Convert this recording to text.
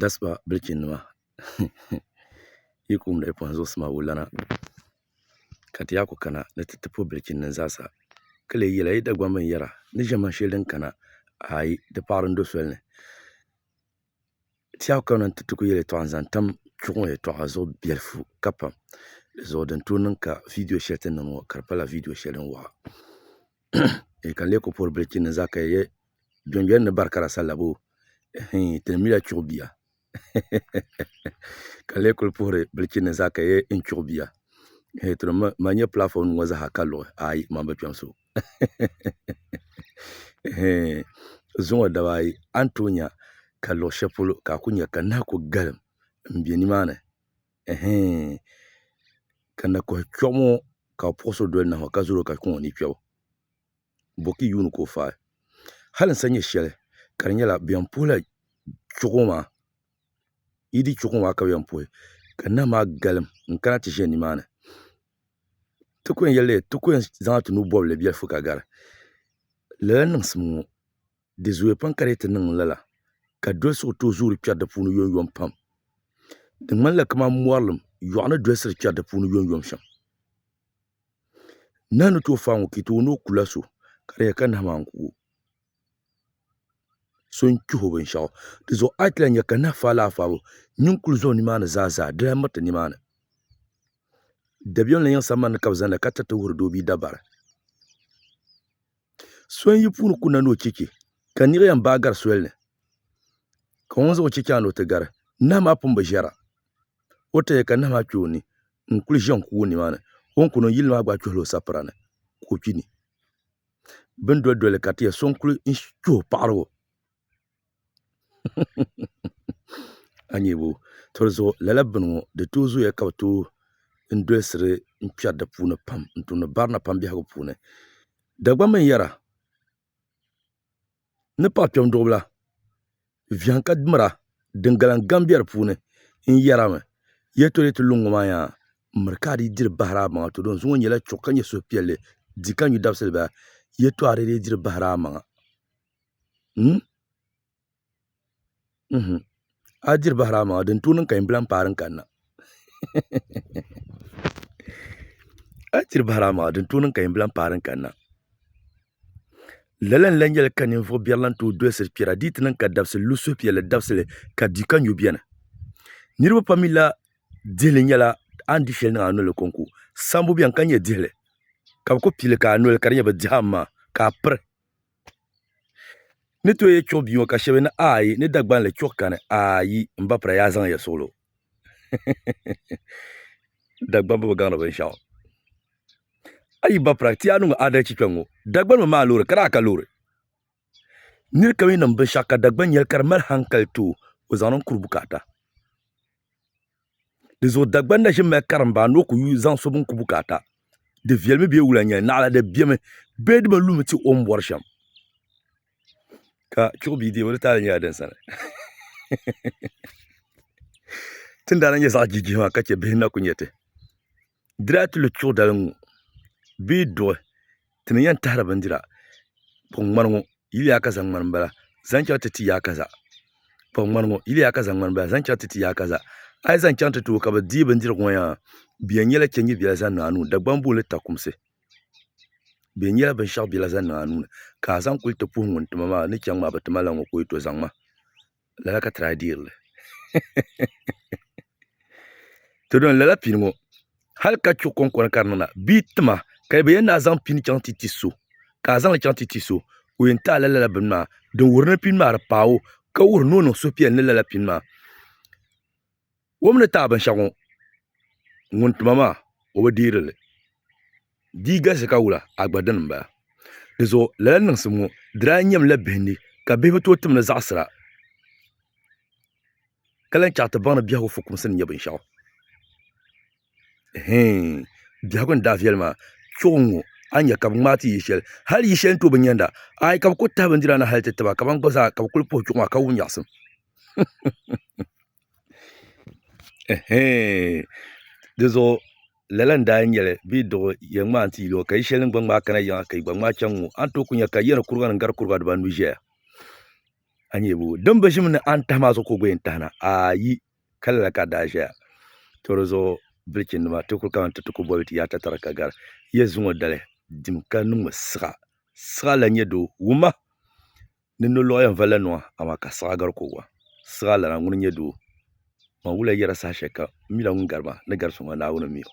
Daspa bilichini nima yi kum lahi kpuɣi n zuɣusaa maa wulana ka ti yaa ku kana ni ti ti puhi bilichini nima zaasa ka lee yela yi Dagbaŋ bin yara ni ʒe man sheli din kana ayi di paɣari n do soli ni ti yaa kana ti ti ku yel yetoɣa n zaŋ tam chuɣu yetoɣa zuɣu belifu ka pam di zuɣu din too niŋ ka viidiyo sheli ti niŋ ŋɔ ka di pala viidiyo sheli din waɣa. e kan le ko por bil chin za ka ye jon jon ni bar kara salabo hin tin mila chuɣu bia kan le kul puhiri bil chin za ka ye in chuɣu bia he tro ma nye platform ŋo zaha ka luɣi ayi man bi kpɛm so zuŋo daba ayi an tuunya ka luɣi shɛli polo ka a ku nya ka nahi ku galim n bɛ nimaani ɛhɛɛn, ka na kɔhi kpiɔɣu ŋɔ ka o puɣisiri doli nahu ka zali o ka kpi ŋɔ ni kpiɔbu bɔki yuuni ka o faai hali n sa nyɛ shɛli ka di nyɛla bɛ yɛn puhila kpiɔɣu ŋɔ maa yi di kpiɔɣu ŋɔ maa ka bɛ yɛn puhi ka nahu maa galim n kana ti ʒe nimaani ti ku yɛn yɛli ti ku yɛn zaŋla ti nuu bɔbili biɛlifu ka gari lala niŋsim ŋɔ. di zooya pam ka di yi ti niŋ lala ka doli so tooi zooi di kpɛri di puuni yom yom pam di ŋmanila kamani mɔrilim yɔɣu ni dolisiri kpɛri di puuni yom yom shɛm nahu ni tooi fai ŋɔ ka yi tooi ni o kula so ka di yɛli ka nahu maa n-ku o so n-kpɛh o binshɛɣu di zuɣu a yi ti lahi nya ka nahu faai lala faabu nyin kuli zo nimaani zaa zaa di lahi miriti nimaani dabiɛm ni yiŋ sambani ni ka bɛ zani la ka tiriti wuhiri doo bee dabari so n yi puuni kuna ni o chɛ chɛ ka niɣi yɛn baai gari soli ni ka o ŋun zaŋ o chɛ chaŋ ni o ti gari nahu maa pun bi ʒɛra o ti yɛ ka nahu maa kpɛ o ni n kuli ʒɛ n kuui nimaani o ni kuni n yili maa gba kpihila o sapira ni ka o kpi ni bin doli doli ka ti yɛ so n kuli kpɛ o paɣarigu a yi nyɛvo toli zuɣu lala bini ŋɔ di tooi zooya ka bi tooi dolisiri n kpɛri di puuni pam n tumdi barina pam biɛhigu puuni Dagbaŋ mini yɛra ni paɣa kpɛm duɣu bila viɛŋ ka mira din galiŋ gaŋ bɛ di puuni n yɛra mi yi yɛli toli yi ti lu n ŋɔ maa yaa n miri ka a dii diri bahiri a maŋa to dinzuɣu ŋɔ nyɛla chuɣu ka nyɛ suhupiɛlli di ka n nyu dabisili baa yi yɛli toli a dii diri bahiri a maŋa a diri bahira amaa din tuui niŋ ka yinbila n paai din kanna lala n lahi nyɛli ka ninvuɣu biɛri lahi tooi dolsiri kpɛra di yi ti niŋ ka dabisili lu suhupiɛlli dabisili ka di ka nyu biɛni niraba pam mii lahi dihili nyɛla a ni di shɛli niŋ a nolini konko sabbu biɛni ka nyɛ dihili ka bi ku pili ka a noli ka di nyɛ bi dihi aŋa maa ka a piri ni tooi yi chuɣu bia ŋɔ ka shɛba yɛli ni ayi ni Dagban li chuɣu kani ayi m ba pira yaa zaŋya suɣili o Dagban bi gaŋ di binshɛɣu a yi ba pira ti yaa niŋ o adalchi kpɛŋ ŋɔ Dagban mi maa loori ka daa ka loori niri kam yi niŋ binshɛɣu ka Dagban yɛli ka di mali hankali too o zaŋ niŋ kuri bukaata. Di zuɣu Dagbani na ʒimi mali karimba anu o ku yuui zaŋ so bin ku bukaata. Di viɛlimi bee wula n-nyɛli, naɣila di bemi bee di bi lumi ti o ni bɔri shɛm. Ka chuɣu bia deebu di taali nyɛla din sani. Ti ni daa na nyɛ zaɣ jijihi maa ka chɛ bihi ni na ku nyɛ ti. Di daa ti lu tuɣ dali ŋɔ bee duɣi ti ni yɛn tahiri bindira kpuɣi ŋmani ŋɔ yili ya ka zaŋ ŋmani m-bala zaŋ chaŋ ti ti ya ka za kpuɣi ŋmani ŋɔ yili ya ka zaŋ ŋmani m-bala zaŋ chaŋ ti ti ya ka za a yi zaŋ chaŋ ti ti o ka bɛ deei bindirigu ŋɔ yaha bɛ yɛn nyɛla chɛ nyɛvila zaŋ niŋ a nuu ni Dagbamba booni li takumsi bɛ yɛn nyɛla binshɛɣu biɛla zaŋ niŋ a nuu ni ka a zaŋ kuli ti puhi ŋun ti ma maa ni chaŋ maa bɛ ti ma la ŋɔ ka o yi to zaŋ ma lala ka try deeri li to don lala pini ŋɔ hali ka chuɣu konkona ka di niŋda bia tima ka bi yɛn na zaŋ pini chaŋ ti ti so ka a zaŋli chaŋ ti ti so o yɛn taɣala lala bini maa din wuhiri ni pini maa di paai o ka wuhiri ni o niŋ suhupiɛlli ni lala pini maa Wum ni taai binshɛɣu ŋɔ, ŋun tuma maa o bi deeri li. Di galisi ka wula a gba dini m-bala. Dizuɣu lala niŋsim ŋɔ di daa nyɛm la bihindi ka bihi bi tooi tim ni zaɣisira ka lan chaɣ ti baŋ ni biɛhigu fukumsi ni nyɛ binshɛɣu. Hii! Biɛhigu ni daa viɛli maa, kpiɔgu n-ŋɔ a ni nya ka bɛ ŋmaai ti yi shɛli, hal yi shɛli n-tooi bi nyanda. Aai ka bɛ kul tahi bindira na hal ti tiba kaman gba zaa ka bɛ kul puhi kpiɔgu maa ka wum nyaɣisim. Dinzuɣu lala n daa nyɛli bidib yɛn ŋmaa n ti yuli o ka yɛ shɛli din gba ŋmaai kana yiŋa ka yi gba ŋmaai chɛŋ ŋɔ a ni tooi ku nyɛ ka yiya ni kuriga nim gari kuriga dibanu ʒɛya a ni nyɛ bee din bi ʒim ni a ni tahi maa zuɣu ka o gba yɛn tahi na aai ka lala ka a daa ʒɛya to dizuɣu bilichi nima ti ku kana ti ti ku boli ti yaai tatariga ka gari yiya zuŋɔ dali dim ka niŋmi siɣa siɣa lahi nyɛ doo wumma Ni nolɔɣu yɛn valila nua, amaa ka siɣa gari ko wa. Siɣa lana ŋuni n-nyɛ doo? Man wuliya yɛra saha shɛli ka m mila ŋun gari ma ni gari so ŋɔ, Naawuni m-mi o.